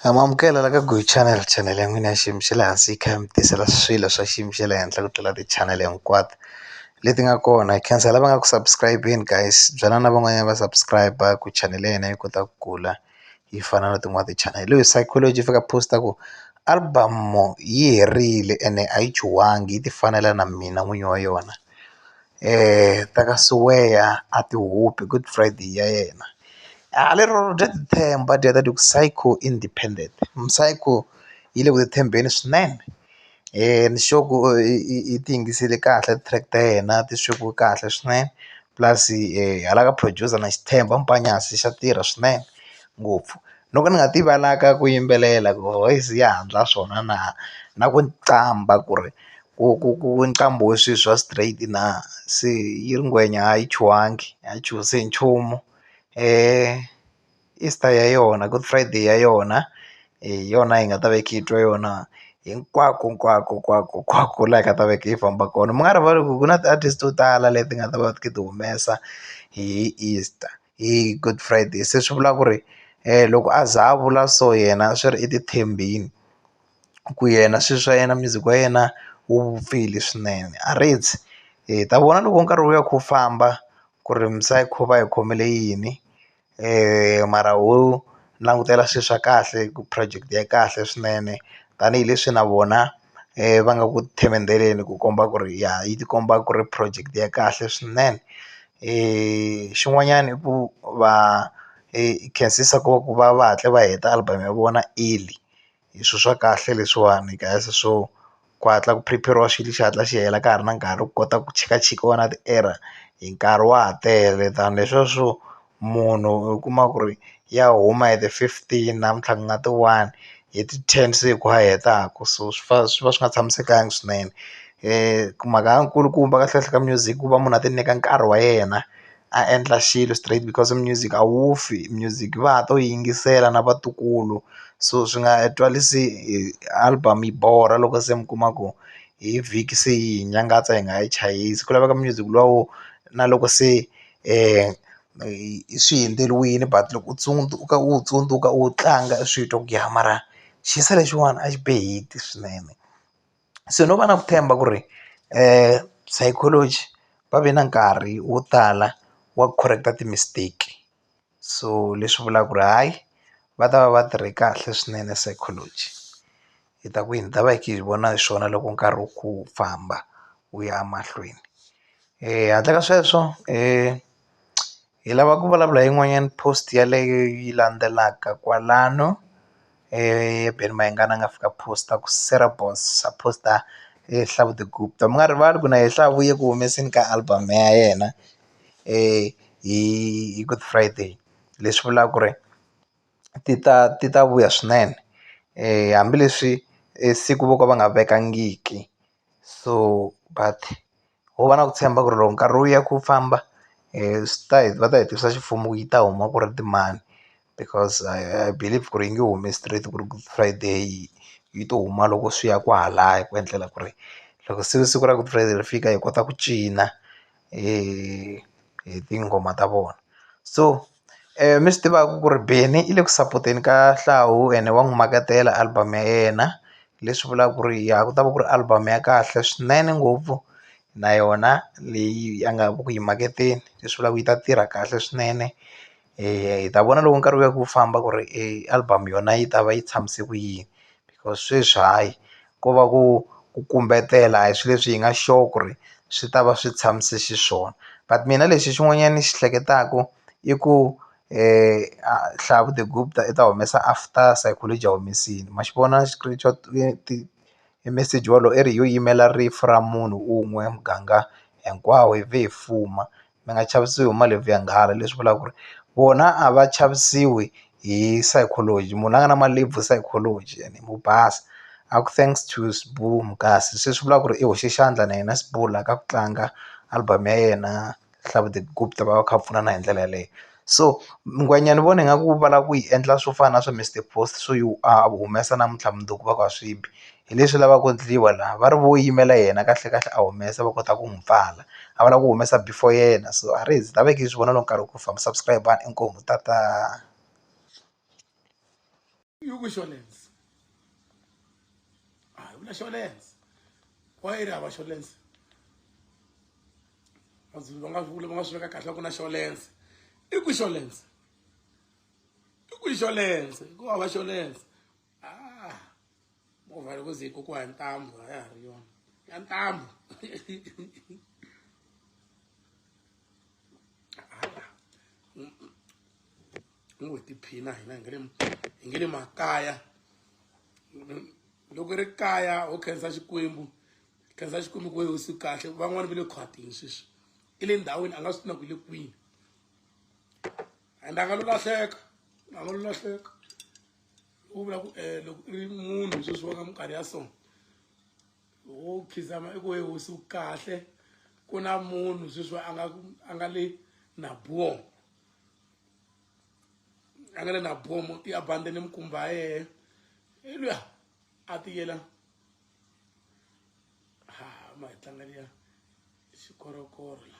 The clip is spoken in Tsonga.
Ha ma amukela la ka Go channel channel ya n'wina ya xiyimo xa le hansi yi kha yi mi tisela swilo swa xiyimo xa le henhla ku tlula ti-channel hinkwato leti nga kona hi khensa lava nga ku subscribe-ni guys byela na van'wanyana va subscribe-a ku channel ya hina yi kota ku kula yi fana na tin'wani ti-channel hi loyi Psychology fika a post-a ku album yi herile ene a yi chuhangi yi ti fanela na mina n'winyi wa yona. ta ka Siweya a ti hupi good friday ya yena a lero bya ti tshemba dya ta ti ku psycho independent psycho yi le ku tshembeni swinene ni sure ku i ti yingisele kahle track ta yena ti swekiwe kahle swinene plus hala ka producer na xi tshemba Mpanyasi xa tirha swinene ngopfu no ka ni nga ti valaka ku yimbelela ku voice ya ha ndla swona na na ku qambha ku ri ku ku ku nqambo wa swi swa straight na se yi ri ngwenya a yi chuhangi a yi chuhisi hi nchumu Easter ya yona good friday ya yona hi yona hi nga ta va hi kha hi twa yona hinkwako hinkwako hinkwako hinkwako laha hi nga ta va hi kha hi famba kona mi nga rivali ku ku na ti-artist to tala leti nga ta va ti kha ti humesa hi Easter. hi good friday se swi vula ku ri loko a za a vula so yena swi ri i titshembile ku yena swi swa yena music wa yena wu vupfile swinene a ri dzi hi ta vona loko nkarhi wu ya kha wu famba ku ri misava yi kha yi va yi khomele yini mara wo. langutela swi swa kahle ku project ya kahle swinene tanihileswi na vona va nga ku themendheleni ku komba ku ri ya yi ti komba ku ri project ya kahle swinene xin'wanyani i ku va khensisa ku va ku va va hatla va heta album ya vona early. hi swilo swa kahle leswiwani guys so ku hatla ku phuripheriwa xilo xi hatla xi hela ka ha ri na nkarhi ku kota ku chikachikiwa na ti-error hi nkarhi wa ha tele than leswiya swo munhu u kuma ku ri ya huma hi ti fifteen namuntlha ku nga ti one hi ti ten se hi ku a hetaku so swi fa swi va swi nga tshamisekanga swinene mhaka ya nkulukumba kahlekahle ka music ku va munhu a ti nyika nkarhi wa yena. a endla xilo straight because music a wu fi music va ha to yingisela na vatukulu so swi nga twarisi hi album yi borha loko se mi kuma ku hi vhiki se yi hi nyangatsa hi nga yi chayisi ku laveka music luwa wo na loko se swi hundzeriwile but loko u tsundzuka u wu tsundzuka u wu tlanga u swi twa ku ya mara xiyisa lexiwani a xi be hit swinene. se no va na ku tshemba ku ri psychology va ve na nkarhi wo tala wa ku correct-a ti-mistake so leswi vulaka ku ri hayi va ta va va tirhe kahle swinene psychology hi ta ku yini hi ta va hi kha hi vona hi swona loko nkarhi wu kha wu famba wu ya mahlweni handle ka sweswo . hi lava ku vulavula hi yin'wanyana post yaleyo yi landzelaka kwalano eBen Mayengani a nga fika post ku Sarah Boss a post Hlavutelo Gupta mi nga rivali ku na yena se a vuye ku humeseni ka album ya yena hi Good Friday leswi vulaka ku ri ti ta ti ta vuya swinene hambileswi siku vo ka va nga vekangiki. so but ho va na ku tshemba ku ri loko nkarhi wu ya ku famba swi ta va ta hi tivisa ximfumo ku yi ta huma ku ri timani because I believe ku ri yi nge humi straight ku ri good friday yi to huma loko swi ya kwalaya ku endlela ku ri loko se siku ra good friday ri fika hi kota ku cina hi tinghoma ta vona so. mi swi tivaka ku ri Benny i le ku sapoteni ka Hlauw ene wa n'wi makatela album ya yena leswi vulaka ku ri ya ku ta va ku ri album ya kahle swinene ngopfu na yona leyi a nga ku yi maketeni leswi vulaka ku yi ta tirha kahle swinene hi ta vona loko nkarhi wu ya ku famba ku ri album yona yi ta va yi tshamise ku yini because sweswi hayi. ko va ku ku kumbetela a hi swi leswi hi nga sure ku ri swi ta va swi tshamise xiswona but mina lexi xin'wanyani ni xi hleketaku i ku hlaya the group ta i ta humesa after psychology a humesile ma xi vona screenshot i message wolowo i ri yo yimela rifu ra munhu un'we muganga hinkwawo hi vhe hi fuma. mi nga chavisiwi hi malebvu ya nghala leswi vulaka ku ri vona a va chavisiwi hi psychology munhu la nga na malebvu psychology ene mo basa a ku thanks to Sbu kasi se swi vula ku ri i hoxe xandla na yena Sbu la ka ku tlanga album ya yena Hlamude Gupta va va kha va pfunana hi ndlela yeleyo so ngwenya ni vona ingaku va lava ku yi endla swo fana na swa Mister Boss swo yi a humesa namuntlha mundzuku va ku a swi bi hi leswi lavaka ku endliwa laha va ri vo yimela yena kahlekahle a humesa va kota ku n'wi pfala a va lava ku humesa before yena so a ri za ni ta veke ni swi vona loko nkarhi wu ku famba subscriber inkomu tata. ah movha loko ze kokiwa hi ntambu a ya ha ri yona ya ntambu ni ngo hi tiphina hina hi nge le hi nge le makaya loko ri kaya ho khensa xikwembu khensa xikwembu ku wehe usi kahle van'wani va le khwatini sweswi i le ndhawini a nga swi tina ku le kwini and a nga lo lahleka a nga lo lahleka u vula ku um loko i ri munhu sweswi wa ka minkarhi ya so wo khizama i ku we hosi wu kahle ku na munhu sweswi a nga a nga le na bom a nga le na bom i ya bande ni mikumba ya yehe i luya a tiyela ha ma hi tlanga liya xikorokoro la